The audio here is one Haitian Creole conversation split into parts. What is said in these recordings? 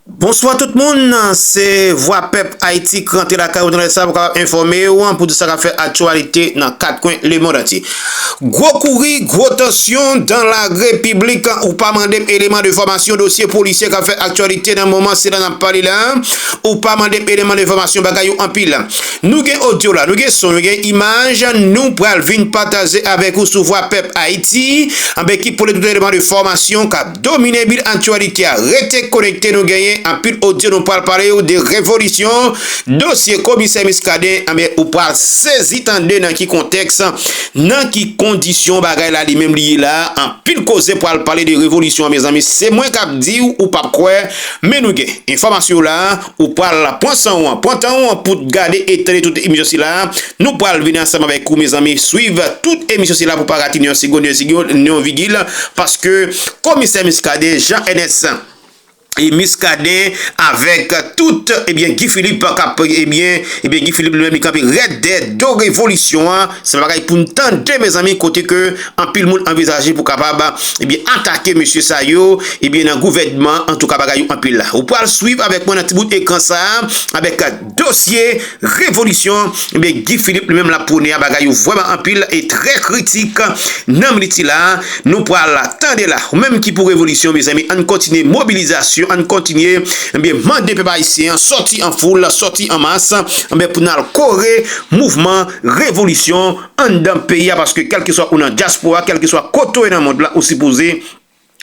Bonswa tout moun, se vwa pèp Ayiti k rantre lakay ou nan lè sa pou kapab enfòme ou an pou tout sa k ap fè aktyalite nan kat kwen lemond antye. Gwo kouri, gwo tansyon dan la repiblik, ou pa mande m eleman de fòmasyon dosye polisye k ap fè aktyalite nan moman sila n ap pale la, ou pa mande m eleman de fòmasyon bagay yo anpil. Nou gen odyo la, nou gen son, nou gen imaj, nou pral vin pataje avèk ou sou vwa pèp Ayiti, anben ki pote tout eleman de fòmasyon k ap. Domine bil aktyalite a, rete konekte nou genyen anpil odyo nou pral pale ou de revolisyon dosye komisè Muscadin anben ou pral sezi tande nan ki kontèks nan ki kondisyon bagay la li menm li ye la anpil koze pral pale de revolisyon an mezanmi se mwen kap diw ou pap kwè men nou gen enfòmasyon w la. Ou pral pran san ou an, pran tan ou an pou t gade e tande tout emisyon sila a. Nou pral vini ansanm avèk ou mezanmi swiv tout emisyon sila pou pa rate ni yon segond, ni yon vigil paske komisè Muscadin, Jean Ernest Muscadin avèk tout ebyen Guy Philippe kap ebyen, ebyen Guy Philippe li menm li kanpe rèd dèd do revolisyon an se pa bagay pou n tande mezanmi kote ke. Anpil moun anvizaje pou kapab ebyen atake mesye sa yo ebyen nan gouvènman antouka bagay yo anpil la. Ou pral swiv avèk mwen nan ti bout ekran sa avèk dosye revolisyon ebyen Guy Philippe li menm lap pwone a bagay yo vrèman anpil e trè kritik nan minit sila nou pral tande la. Ou menm ki pou revolisyon mezanmi ann kontinye mobilizasyon ann kontinye ebyen mande pèp ayisyen an sòti an foul sòti an mas ebyen pou nal kore mouvman revolisyon. anndan peyi a paske kèlkeswa ou nan dyaspora kèlkeswa kote w ye nan mond lan ou sipoze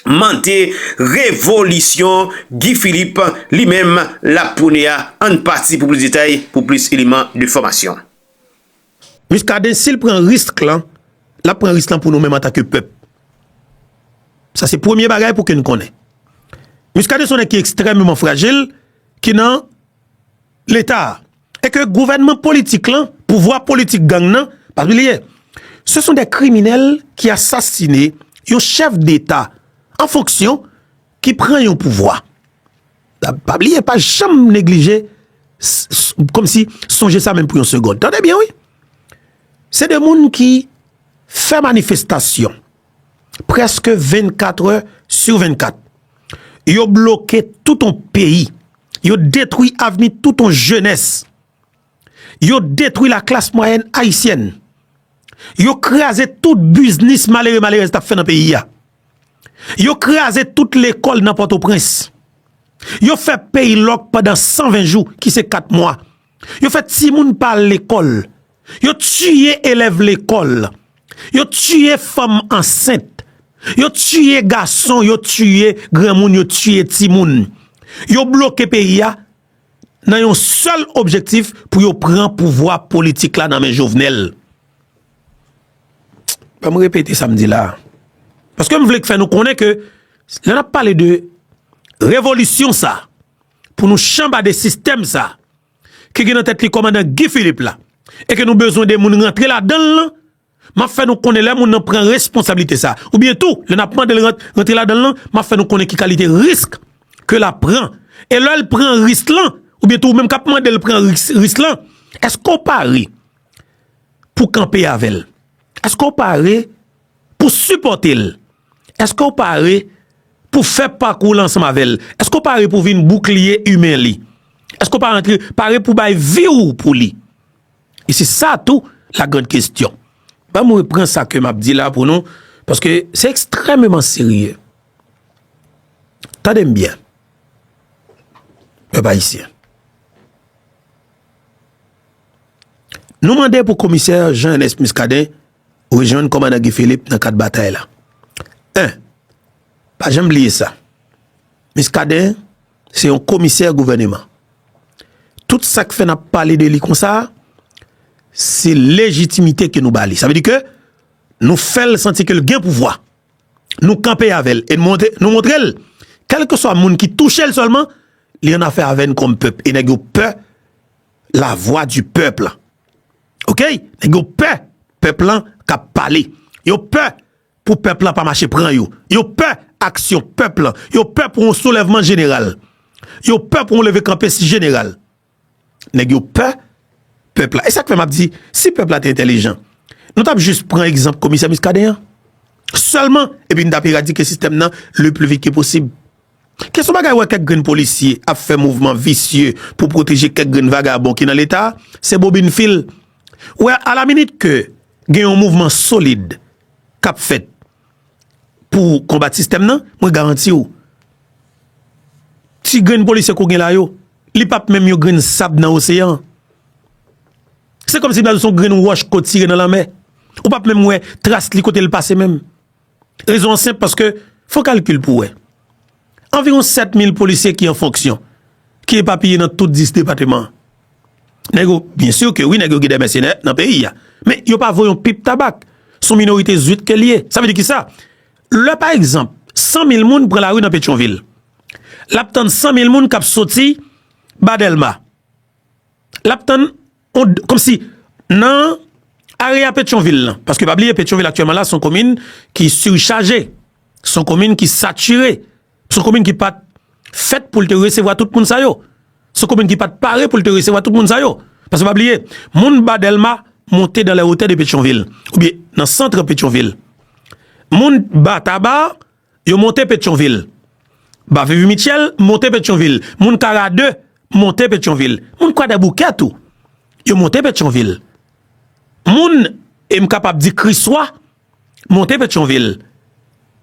mande revolisyon Guy Philippe li menm l ap pwone a ann pati pou plis detay pou plis eleman de fòmasyon. Muscadin sil pran risk lan lap pran risk lan pou nou menm antanke pèp sa se premye bagay pou ke n konnen Muscadin son nèg ki ekstrèmeman frajil ki nan. leta a e ke gouvènman politik lan, pouvwa politik gang nan, pa bliye, se son de kriminèl ki asasine yon chèf deta an fonksyon ki pran yon pouvwa. Pa bliye, pa janm neglije, kòm si sonje sa menm pou yon segond. Tande byen wi, se de moun ki fè manifestasyon. preske 24 è sou 24. Yo bloke tout yon peyi. Yo detwi avni tout yon jenès. Yo detwi la klas mwayèn ayisyèn. Yo kraze tout biznis malere malerèz tap fè nan peyi a. Yo kraze tout lekòl nan Pòtoprens. Yo fè peyi lòk pandan 120 jou ki se 4 mwa. Yo fè timoun pa al lekòl. Yo tiye elèv lekòl, yo tiye fanm ansent, yo tiye gason, yo tiye granmoun, yo tiye timoun. Yo bloke peyi a nan yon sèl objektif pou yo pran pouvwa politik la nan men Jovenel. Ban m repete sa m di la. Paske m vle k fè nou konnen ke lè n ap pale de revolisyon sa pou nou chanbade sistèm sa. ki gen nan tèt li kòmandan Guy Philippe la e ke nou bezwen de moun rantre ladan l lan, m ap fè nou konnen lè moun nan pran responsablite sa a oubyen tou lè n ap mande l rantre ladan l lan, m ap fè nou konnen ki kalite risk ke l ap pran. E lè l pran risk lan oubyen tou ou menm k ap mande l pran risk lan, èske w pare pou kanpe avè l? Èske w pare pou sipòte l? Èske w pare pou fè pakou l ansanm avè l? Èske w pare pou vin boukliye imen li? Èske w pare pou bay vi w pou li? E se sa tou la grand kestyon. Ban m repran sa ke m ap di la pou nou, paske se ekstrèmeman serye. Tande m byen, pèp ayisyen. Nou mande pou komisè Jean Ernest Muscadin Rejwenn kòmandan Guy Philippe nan kad batay la. 1, Pa janm bliye sa, Muscadin se yon komisè gouvèneman. Tout sa k fè n ap pale de li konsa a, se lejitimite ke nou ba li. Sa vle di ke nou fè l santi ke l gen pouvwa. Nou kanpe avè l e nou montre l, kèlkeswa moun ki touche l sèlman, li annafè avè n kòm pèp e nèg yo pè la vwa di pèp la. Ok nèg yo pè pèp lan kap pale yo pè pou pèp lan pa mache pran yo yo pè aksyon pèp lan yo pè pou yon soulèvman jeneral yo pè pou yon leve kanpe jeneral nèg yo pè pèp la e sak fè map di si pèp la te entèlijan nou tap jis pran egzanp komisè miskaden an sèlman epi nou tap eradike sistèm nan le pli vit ke posib. Ke son bagay wè kèk grenn polisye ap fè mouvman visye pou pwoteje kèk grenn vagabon ki nan leta, se bobin fil. Ou wè a la minit ke gen yon mouvman solid k ap fèt pou konbat sistèm nan, mwen garanti ou, ti grenn polisye ke ou gen la yo, li p ap menm yon grenn sab nan oseyan an. Se kòmsi m ta di w se yon grenn wòch ke w tire nan lanmè. Ou p ap menm wè tras li kote li pase menm. Rezon an senp paske fon kalkil pou wè. Anviwon 7 mil polisye ki an fonksyon, ki epapiye nan tout 10 depateman. Nèg yo, byen sur ke wi nèg yo gen de mèsenè nan peyi a. Men yo pa vo yon pip tabak. Son minorite zwit ke li ye. Sa vle di ki sa? Lè pa egzanp, 100 mil moun pran lari nan Petyonvil. Lap tann 100 mil moun kap soti ba Delma. Lap tann Kòm si nan area Petyonvil lan, paske pa bliye Petyonvil aktyèlman la son komin ki sirichaje, son komin ki satire, son komin ki pat fèt pou l te resevwa tout moun sa yo, son komin ki pat pare pou l te resevwa tout moun sa yo. Paske pa bliye, moun ba Dèlma monte dan lè wotè de Petyonvil, oubyen nan santre Petyonvil. Moun ba Taba. Yo monte Petyonvil. Bavivy Mitchell monte Petyonvil. Moun Kara 2 monte Petyonvil. Moun Kwadèboukè tou, yo monte Petyonvil. Moun, e m kapab di Kriswa, monte Petyonvil.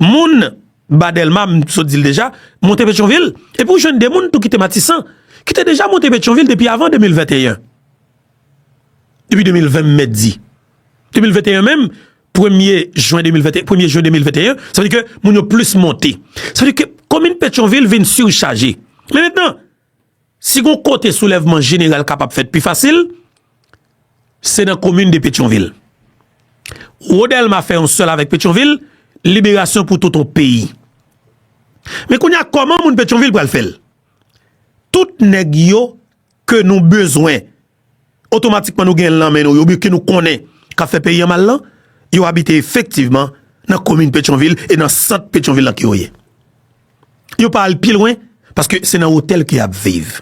Moun Ba Dèlma, m sot di l deja, monte Petyonvil. Epi w jwenn de moun tou ki te Matisan, ki te deja monte Petyonvil depi avan 2021. Depi 2020 m mèt di. 2021 menm. Premye jwen 2021, premye jwen 2021, sa vle di ke moun yo plis monte. Sa vle di ke komin Petyonvil vin sirichaje. Men mentenan, si gon kote soulèvman jeneral kapab fèt pi fasil, se nan komin de Petyonvil. Wo Dèlma fè yon sèl avèk Petyonvil, liberasyon pou tout yon peyi. Men kounye a, kòman moun Petyonvil pral fèl? Tout nèg yo ke nou bezwen otomatikman nou gen nan men nou yo oubyen ke nou konnen k ap fè peyi an mal lan, yo abite efektivman nan komin Petyonvil e nan sant Petyonvil lan ke yo ye. Yo pa al pi lwen paske se nan otèl ke y ap viv.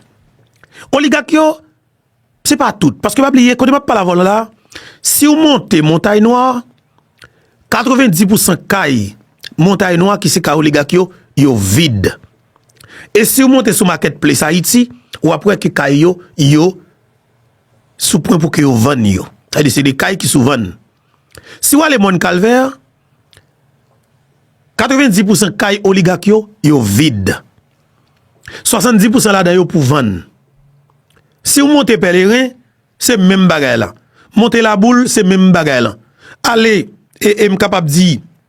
Oligak yo, se pa tout, paske pa bliye kote m ap pale avè w la, si w monte Montay Nwa, 90 pousan kay Montay Nwa ki se kay oligak yo, yo vid. E siw monte sou market place Haiti ou ap wè ke kay yo yo sou pwen pou ke yo vann yo. Sa vle di se de kay ki sou vann. Si wale Mòn Kalvè, 90 pou san kay oligak yo, yo vid. 70 pou san ladan yo pou vann. Siw monte Pèleren, se menm bagay la. Monte Laboul, se menm bagay la. Ale, e m kapab di.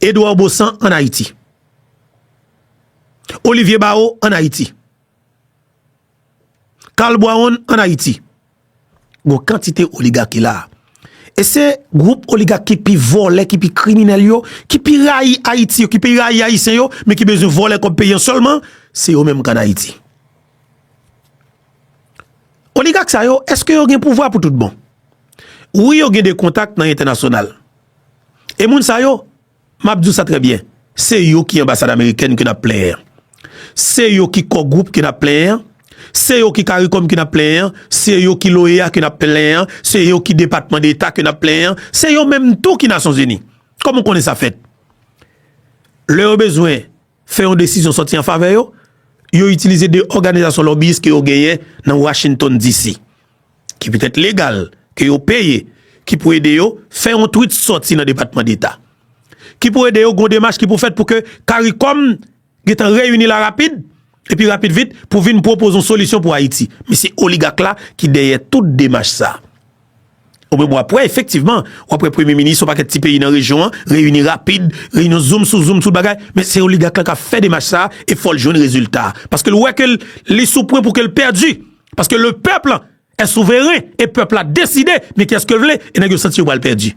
Edouard Baussan an Ayiti. Olivier Barreau an Ayiti. Carl Boiron an Ayiti. Gon kantite oligak ki la. E se gwoup oligak ki pi vole, ki pi kriminel yo, ki pi rayi Ayiti yo, ki pi rayi Ayisyen yo, men ki bezwen vole kob peyi an selman, se yo menm ki an Ayiti. Oligak sa yo, eske yo gen pouvwa pou tout bon? Wi yo gen de kontak nan entenasyonal. E moun sa yo, m ap di w sa trè byen, se yo ki anbasad amerikèn ke n ap plenyen an. Se yo ki kò gwoup ke n ap plenyen an. Se yo ki karikòm ke n ap plenyen an. Se yo ki l'OEA ke n ap plenyen an. Se yo ki depatman deta ke n ap plenyen an. Se yo menm tou ki Nasyon Zini. Kòman w konnen sa fèt? Lè yo bezwen fè yon desizyon sòti an favè yo, yo itilize de òganizasyon lòbiyis ke yo genyen nan Washington DC. ki petèt legal, ke yo peye, ki pou ede yo fè yon twit sòti nan Depatman Deta, ki pou ede yo gen yon demach ki pou fèt pou ke Karikòm gen tan reyini la rapid, epi rapid vit pou vin pwopoze yon solisyon pou Ayiti. Men se oligak la ki dèyè tout demach sa. O menm w ap wè efektivman, w ap wè Premye Minis yon pakèt ti peyi nan rejyon an reyini rapid, reyinyon zoom sou zoom sou bagay, men se oligak la k ap fè demach sa e fò l jwenn rezilta. Paske l wè ke li sou pwen pou ke l pèdi. Paske le peuple est souverain e pèp la deside men kiyès ke vle e nèg yo santi yo pral pèdi.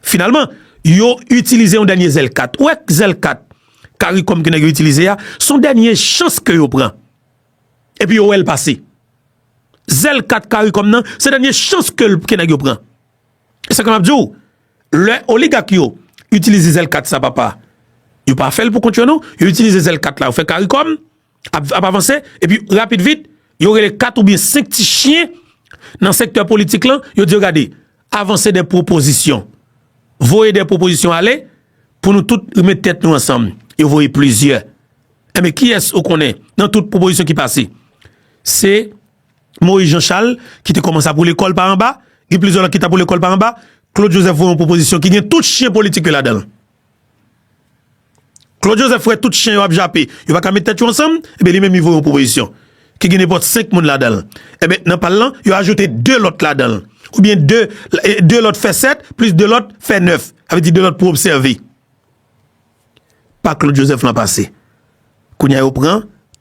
Finalman, yo itilize yon dènye zèl kat. Ou wè zèl kat karikom ke nèg yo itilize a, son dènye chans ke yo pran. Epi yo wè l pase. Zèl kat karikom nan, se dènye chans ke nèg yo pran. E sa ke map di ou, lè oligak yo itilize zèl kat sa papa, yo pa fè l pou kont yo non, yo itilize zèl kat la yo fè karikom, ap avanse, epi rapid vit, yo rele 4 ou byen 5 ti chyen nan sektè politik lan, yo di yo gade, avanse de pwopozisyon, voye de pwopozisyon ale, pou nou tout remèt tèt nou ansanm, yo voye plizyè. Ebe, ki es ou konnen nan tout pwopozisyon ki pase? Se Moïse Jean Charles ki te komanse ap woule kòl pa anba, gen plizyè lòt ki tap woule kòl pa anba, Claude Joseph voye yon pwopozisyon ki gen tout chyen politik yo ladan. Claude Joseph wè tout chen yo ap jape, yo pa ka met tèt yo ansanm, enben li menm li voye yon pwopozisyon ki gen nenpòt senk moun ladan l. Enben nan pa l lan, yo ajoute de lòt ladan l. Oubyen de, de lòt fè sèt, plis de lòt fè nèf. Sa vle di de lòt pou obsève. Pa Claude Joseph lan pase. Kounye a yo pran.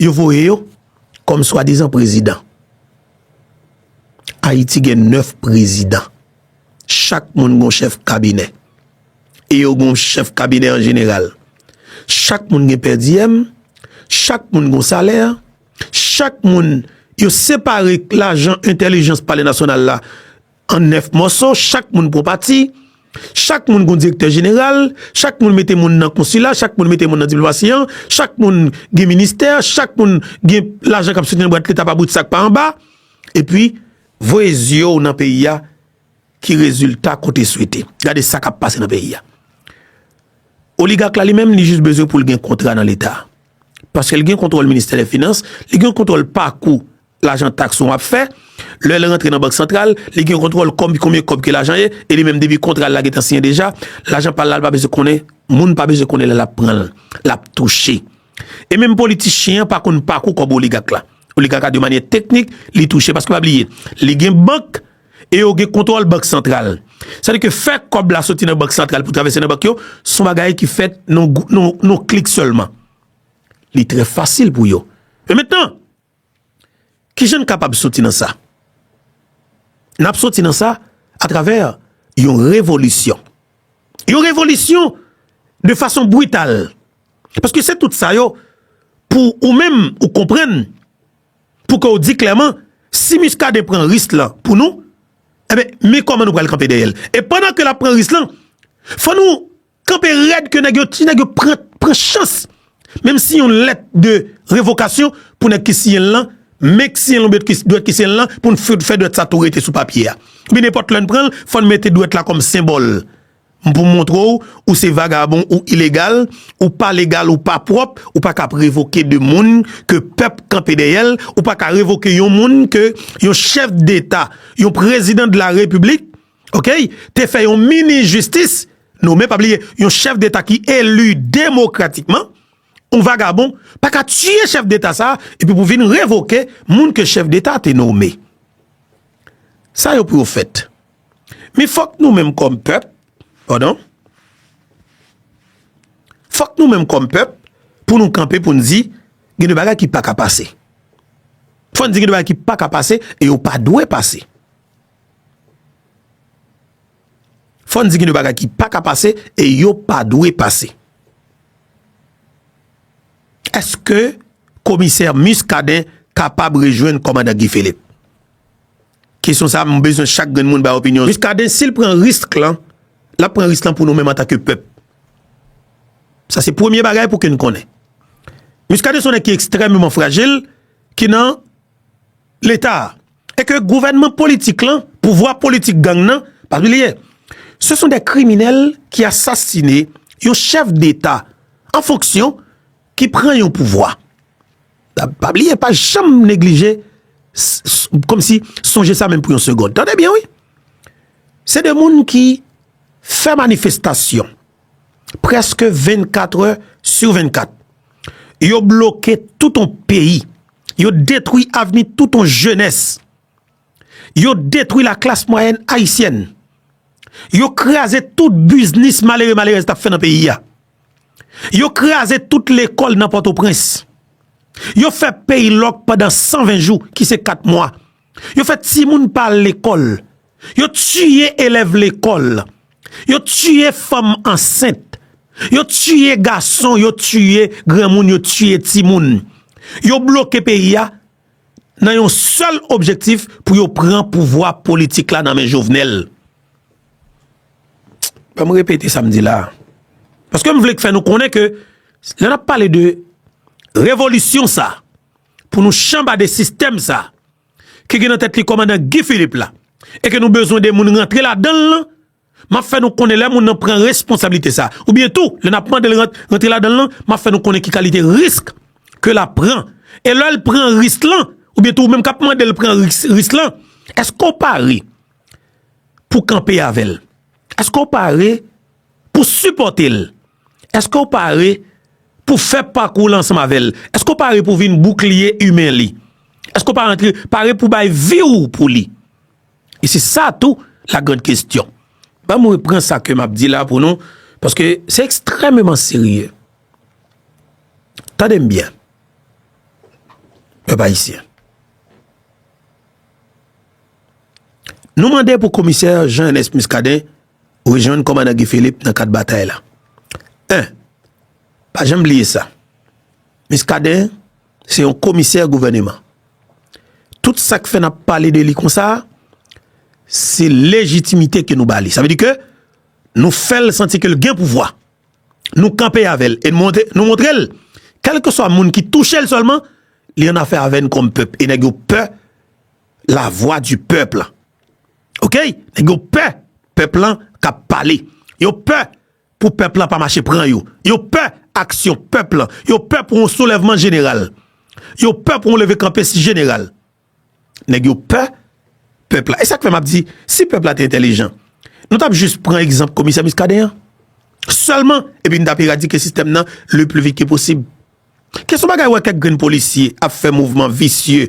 Yo voye yo kòm swadizan prezidan. Ayiti gen 9 prezidan. Chak moun gen yon chèf kabinè. E yo gen yon chèf kabinè an jeneral. Chak moun gen pèdiyèm. Chak moun gen yon salè. Chak moun yo separe lajan entèlijans pale nasyonal la An 9 mòso, chak moun pran pati, chak moun gon direktè jeneral, chak moun mete moun nan konsila, chak moun mete moun nan diplomasi an, chak moun gen ministè, chak moun gen lajan k ap soti nan bwat leta pa bout sa k pa anba, epi voye zye w nan peyi a ki rezilta kote swete. Gade sa k ap pase nan peyi a. Oligak la li menm li jis bezwen pou l gen kontra nan leta. Paske l gen kontwòl ministè dè finans, li gen kontwòl pakou lajan taks ou ap fè, lè l rantre nan bank santral, li gen kontwòl kòb, konbyen kòb ke lajan ye, e li menm depi kontra l la gentan siyen deja, lajan pa l la l pa bezwen konnen, moun pa bezwen konnen lè l ap pran l, l ap touche. E menm politichyen an pa konn pakou kòb oligak la. Oligak la de manyè teknik li touche, paske pa bliye, li gen bank e yo gen kontwòl bank santral. Sa di ke fè kòb la soti nan bank santral pou travèse nan bank yo, son bagay ki fèt nan yon klik sèlman. Li trè fasil pou yo. Men mentan! Ki jan n kapab soti nan sa? N ap soti nan sa atravè yon revolisyon. Yon revolisyon de fason brital. Paske se tout sa yo pou ou menm ou konprann, pou ke ou di klèman, si Muscadin pran risk lan pou nou, enben men kòman nou pral kanpe dèyè l. E pandan ke l ap pran risk lan, fò nou Kanpe rèd ke nèg yo, ti nèg yo pran, pran chans, menm si yon lèt de revokasyon pou nèg ki siyen l lan, men k siyen l oubyen ki dwèt ki siyen l lan, pou n fout fè dwèt sa tou rete sou papye a. Oubyen nenpòt lè n pran l, fò n mete dwèt la kòm senbòl, pou montre w, ou se vagabon, ou ilegal, ou pa legal, ou pa pwòp, ou pa ka ap revoke de moun ke pèp kanpe dèyè l, ou pa ka revoke yon moun ke yon chèf deta, yon prezidan de la repiblik, Okay te fè yon minis jistis nome pa bliye yon chèf deta ki eli demokratikman yon vagabon pa ka tiye chèf deta sa epi pou vin revoke moun ke chèf deta te nome sa yo pou yo fèt mi fòk nou menm kòm pèp pardon fòk nou menm kòm pèp pou nou kanpe pou nou di gen de bagay ki pa ka pase fòn di gen de bagay ki pa ka pase e yo pa dwe pase. Fòn di gen de bagay ki pa ka pase e yo pa dwe pase. Eske komisè Muscadin kapab rejwenn kòmandan Guy Philippe? Kesyon sa mwen bezwen chak grenn moun bay opinyon. Muscadin sil pran risk lan, lap pran risk lan pou nou menm anta ke pèp. Sa se premye bagay pou ke nou konnen. Muscadin son nèg ki ekstrèmeman frajil ki nan. Leta a, e ke gouvènman politik lan, pouvwa politik gang nan, pa bliye, se son de kriminèl ki asasine yon chèf deta an fonksyon ki pran yon pouvwa. Pa bliye, pa janm neglije, kòm si sonje sa menm pou yon segond. Tande byen wi, se de moun ki fè manifestasyon. preske 24 è si 24. Yo bloke tout on peyi. Yo detwi avni tout on jenès. Yo detwi la klas mwayèn ayisyèn. Yo kraze tout biznis malere malerèz tap fè nan peyi a. Yo kraze tout lekòl nan pòtoprens. Yo fè peyi lòk pandan 120 jou ki se 4 mwa. Yo fè timoun pa al lekòl. yo tiye elèv lekòl, yo tiye fanm ansent, yo tiye gason, yo tiye granmoun, yo tiye timoun. Yo bloke peyi a nan yon sèl objektif pou yo pran pouvwa politik la nan men Jovenel. Ban m repete sa m di la. Paske m vle k fè nou konnen ke lè n ap pale de revolisyon sa, pou nou chanbade sistèm sa, ki gen nan tèt li kòmandan Guy Philippe la e ke nou bezwen de moun rantre ladan l lan, m ap fè nou konnen lè moun nan pran responsablite sa a oubyen tou lè n ap mande l rantre ladan l lan, m ap fè nou konnen ki kalite risk ke l ap pran. E lè l pran risk lan oubyen tou ou menm k ap mande l pran risk lan, èske w pare pou kanpe avè l? Èske w pare pou sipòte l? Eske w pare pou w fè pakou l ansanm avè l? Eske w pare pou w vin boukliye imen li? Eske w pare pou w bay vi w pou li? E se sa tou la grand kestyon. Ban mwen pran sa ke m ap di la pou nou, paske se ekstrememan serye. Tande m byen, pèp ayisyen. Nou mande pou komisè Jean Ernest Muscadin Rejwenn Kòmandan Guy Philippe nan kad batay la. 1, Pa janm bliye sa, Muscadin se yon komisè gouvèneman. Tout sa k fè n ap pale de li konsa a, se lejitimite ke nou ba li. Sa vle di ke nou fè l santi ke l gen pouvwa. Nou kanpe avè l e nou montre l, kèlkeswa moun ki touche l sèlman, li annafè avè n kòm pèp e nèg yo pè la vwa di pèp la. Ok nèg yo pè pèp lan ka pale yo pè pou pèp lan pa mache pran yo yo pè aksyon pèp lan yo pè pou yon soulèvman jeneral yo pè pou yon leve kanpe si jeneral nèg yo pè pèp la e sak fè map di si pèp la te entèlijan nou tap jis pran egzanp komisè miskaden an sèlman epi nou tap eradike sistèm nan le plu vit ke posib kèson bagay wè kèk grenn polisye ap fè mouvman visye.